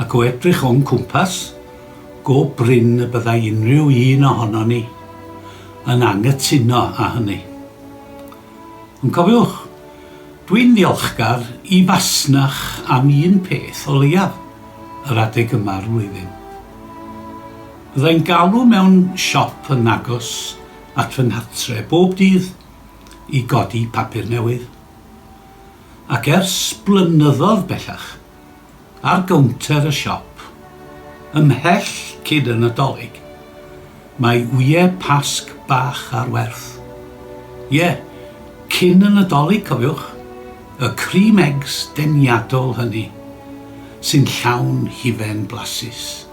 Ac o edrych o'n cwmpas, go brin y byddai unrhyw un ohonon ni yn anghytuno â hynny. Ond cofiwch, dwi'n ddiolchgar i fasnach am un peth o leiaf yr adeg yma'r flwyddyn. Byddai'n galw mewn siop yn agos at fy nghartre' bob dydd i godi papur newydd. Ac ers blynyddodd bellach, ar gownter y siop. Ymhell cyd y Nadolig, mae wyau Pasg bach ar werth. Ie, cyn y Nadolig, cofiwch, y cream eggs deniadol hynny, sy'n llawn hufen blasus.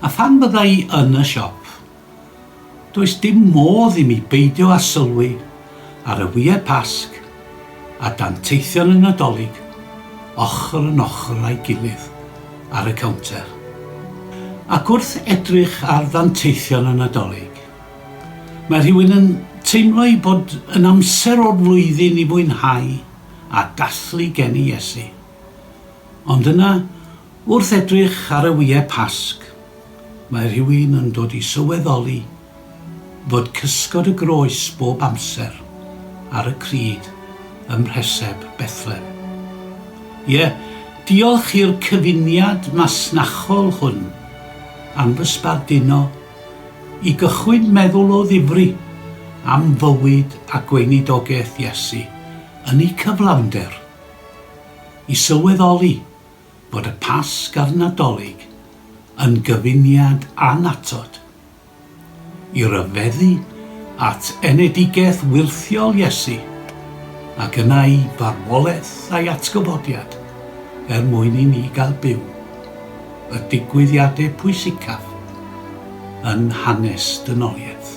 A phan fydda i yn y siop, Does dim modd i mi beidio â sylwi ar y Wye Pasg a danteithion y Nadolig ochr yn ochr â'i gilydd ar y cownter. Ac wrth edrych ar ddanteithion y Nadolig, mae rhywun yn teimlo ei bod yn amser o'r flwyddyn i fwynhau a dathlu geni Iesu. Ond yna, Wrth edrych ar y Wye Pasg, mae rhywun yn dod i sylweddoli fod cysgod y groes bob amser ar y crud ym mhreseb Bethlem. Ie, diolch i'r cyfuniad masnachol hwn am fy sbarduno i gychwyn meddwl o ddifri am fywyd a gweinidogaeth Iesu yn eu cyflawnder, i sylweddoli bod y Pasg a'r Nadolig yn gyfuniad annatod i ryfeddu at enedigaeth wyrthiol Iesu ac yna i farwolaeth a'i atgyfodiad er mwyn i ni gael byw y digwyddiadau pwysicaf yn hanes dynoliaeth.